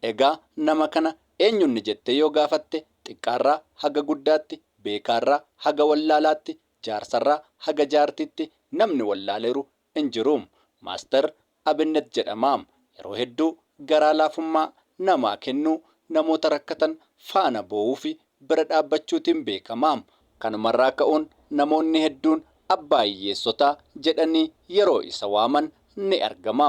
Egaa nama kana eenyunni jettee yoo gaafatte xiqqaarraa haga guddaatti, beekaarraa haga wallaalaatti, jaarsarraa haga jaartiitti namni wallaaleeru hin jiru. Maaster Abinnet jedhama. Yeroo hedduu garaa laafummaa namaa kennuu, namoota rakkatan faana boo'uufi bira dhaabbachuutiin beekama. Kanumarraa ka'uun namoonni hedduun abbaa hiyyeessotaa jedhanii yeroo isa waaman ni argama.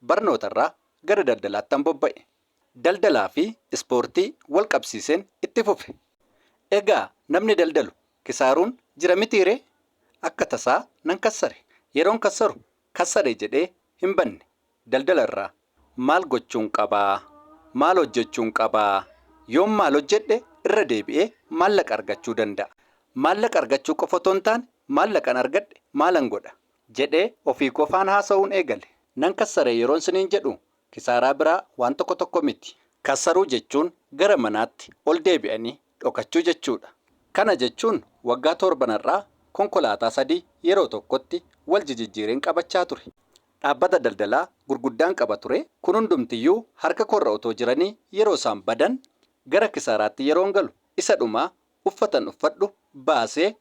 Barnootarraa gara daldalaattan bobba'e. Daldalaafi ispoortii walqabsiiseen itti fufe. Egaa namni daldalu kisaaruun jira mitiiree? Akka tasaa nan kassare. Yeroon kassaru kassare jedhee hinbanne. Daldalarraa maal gochuun qaba? Maal hojjechuun qaba? Yoon maal hojjedhe irra deebi'ee maallaqa argachuu danda'a? Maallaqa argachuu qofa otoo hintaane maallaqan argadhe maalan godha? jedhee ofii qofaan haasa'uun eegale. Nan kassare yeroon siniin jedhu kisaaraa biraa waan tokko tokko miti. Kassaruu jechuun gara manaatti ol deebi'anii dhokachuu jechuudha. Kana jechuun waggaa toorbanarraa konkolaataa sadii yeroo tokkotti wal jijijjiireen qabachaa ture. Dhaabbata daldalaa gurguddaan qaba ture. Kun hundumtiyyuu harka koorra otoo jiranii yeroo isaan badan gara kisaaraatti yeroon galu isa dhumaa uffatan uffadhu baasee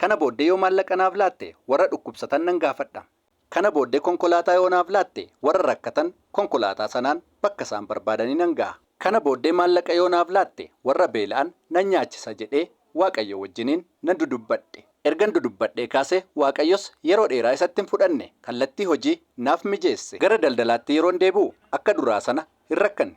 Kana booddee yoo maallaqa naaf laatte warra dhukkubsatan nan gaafadha. Kana booddee konkolaataa yoo naaf laatte warra rakkatan konkolaataa sanaan bakka isaan barbaadanii nan gaha. Kana booddee maallaqa yoo naaf laatte warra beela'an nan nyaachisa jedhee Waaqayyoo wajjiniin nan dudubbadhe. Ergan dudubbadhee kaasee Waaqayyos yeroo dheeraa isatti hin fudhanne, kallattii hojii naaf mijeesse. Gara daldalaatti yeroon deebi'u akka duraa sana hin rakkanne.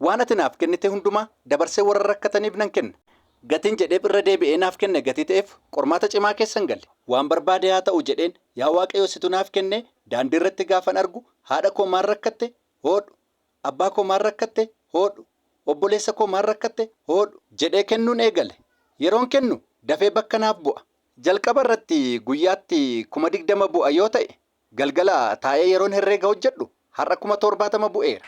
Waan ati naaf kennite hundumaa dabarsee warra rakkataniif nan kenna. Gatiin jedheef irra deebi'ee naaf kenne gatii ta'eef qormaata cimaa keessan gale. Waan barbaade haa ta'u jedheen yaa Waaqayyo situ naaf kennee daandii irratti gaafan argu haadha koo maal rakkatte? hoodhu. Abbaa koo maal rakkatte? hoodhu. Obboleessa koo maal rakkatte? hoodhu. Jedhee kennuun eegale. Yeroon kennu dafee bakka naaf bu'a. Jalqaba irratti guyyaatti kuma 20 bu'a yoo ta'e Galgala taa'ee yeroon herreega hojjedhu har'a kuma toorbaatama bu'eera.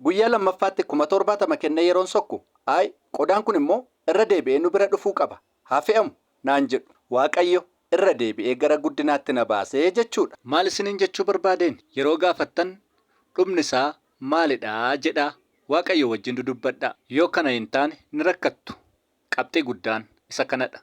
Guyyaa lammaffaatti kuma toorbaatama kennee yeroon sokku, Ayi, qodaan kun immoo irra deebi'ee nu bira dhufuu qaba, haa fe'amu! naan jedhu. Waaqayyo irra deebi'ee gara guddinaatti na baase jechuu dha. Maal isiniin jechuu barbaadeen? Yeroo gaafattan, Dhumni isaa maali dha? jedhaa Waaqayyoo wajjin dudubbadhaa. Yoo kana hin taane ni rakkattu. Qabxii guddaan isa kana dha.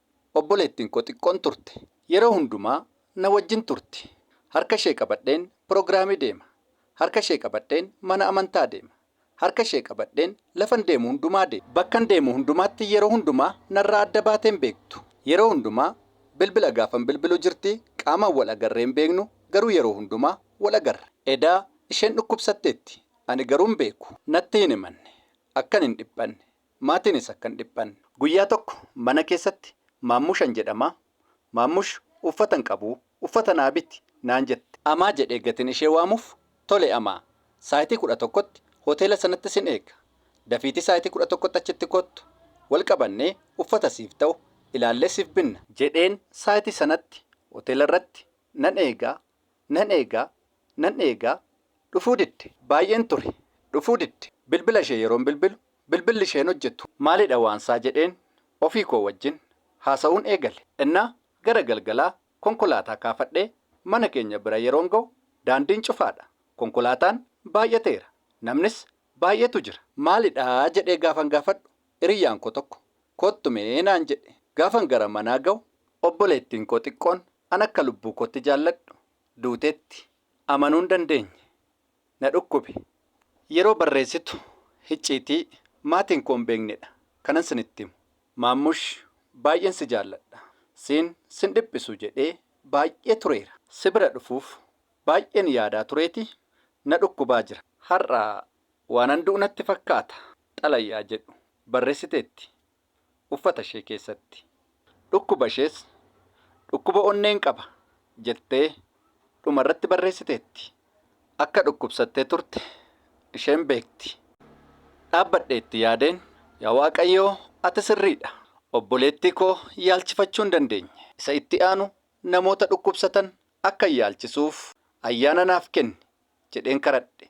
Obboleettiin koo xiqqoon turte. Yeroo hundumaa na wajjin turti. Harka ishee qabadheen pirogiraamii deema. Harka ishee qabadheen mana amantaa deema. Harka ishee qabadheen lafan deemu hundumaa deema. Bakkan deemu hundumaatti yeroo hundumaa narraa adda baatee hin beektu. Yeroo hundumaa bilbila gaafan bilbilu jirti, qaamaan wal agarree hin beeknu, garuu yeroo hundumaa wal agarra. Eda, Isheen dhukkubsatteetti, ani garuu hin beeku. Natti hin himanne. Akkan hin dhiphanne. Maatiinis akka hin dhiphanne. Guyyaa tokko mana keessatti Maammushan jedhama. Maammush uffata hin qabu, uffata naa biti naan jette. Amaa jedhee gatiin ishee waamuuf, Tole Amaa, saayitii 11tti hoteela sanatti sin eega. Dafiitii saayitii 11tti achitti koottu. Wal qabannee uffata siif ta'u ilaallee siif binna. Jedheen saayitii sanatti hoteela irratti nan eega Nan eega, nan eega, dhufuu didde. Baay'een ture, dhufuu didde. Bilbila ishee yeroon bilbilu, bilbilli ishee hin hojjetu. Maalidha waansaa jedheen ofii koo wajjin haasa'uun eegale. Ennaa gara galgalaa konkolaataa kaafadhee mana keenya bira yeroon ga'u daandiin cufaadha. Konkolaataan baay'ateera. Namnis baay'eetu jira. Maalidha jedhee gaafan gaafadhu hiriyyaan koo tokko koottu mee naan jedhe. Gaafan gara manaa ga'u obboleettiin koo xiqqoon An akka lubbuu kootti jaalladhu duuteetti amanuu hin dandeenye. Na dhukkube. Yeroo barreessitu hicciitii maatiin koo hin beeknedha kanan sinitti himu. Maammush baay'een si jaalladha. Siin sin dhiphisu jedhee baay'ee tureera. Si bira dhufuuf baay'een yaadaa tureetii na dhukkubaa jira. Har'a waanan du'u natti fakkaata xalayaa jedhu barreessiteetti. uffata ishee keessatti. Dhukkuba ishees dhukkuba onneen qaba jettee dhuma irratti barreessiteetti. Akka dhukkubsattee turte isheen beekti. Dhaabbadhee itti yaadeen, Yaa Waaqayyo, ati sirrii dha. Obboleettii koo yaalchifachuu hin dandeenye. Isa itti aanu namoota dhukkubsatan akkan yaalchisuuf ayyaana naaf kenni jedheen kadhadhe.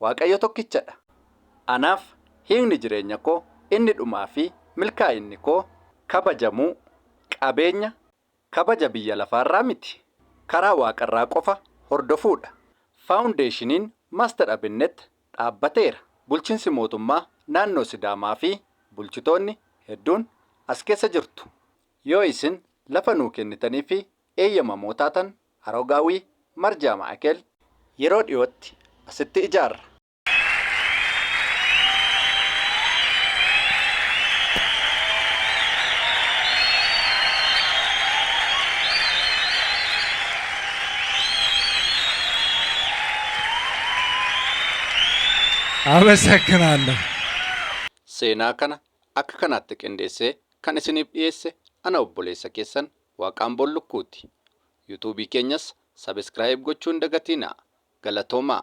Waaqayyo tokkicha dha. Anaaf hiikni jireenya koo inni dhumaa fi milkaa'inni koo kabajamuu, qabeenya, kabaja biyya lafaa irraa miti, karaa waaqa irraa qofa hordofuu dha. Faawundeeshiniin Master Abinnet dhaabbateera. Bulchinsi mootummaa naannoo Sidaamaa fi bulchitoonni hedduun as keessa jirtu. Yoo isin lafa nuu kennitanii fi eeyyamamoo taatan Haroo Gaawwii, Marjaa Maa'ikeel. Yeroo dhiyootti asitti ijaarra. Amasakinaalloo. Seenaa kana akka kanaatti qindeessee kan isiniif dhiyeesse ana obboleessa keessan Waaqaan Bollukkuuti. Youtube keenyas subscribe gochuu hin dagatinaa. Galatoomaa!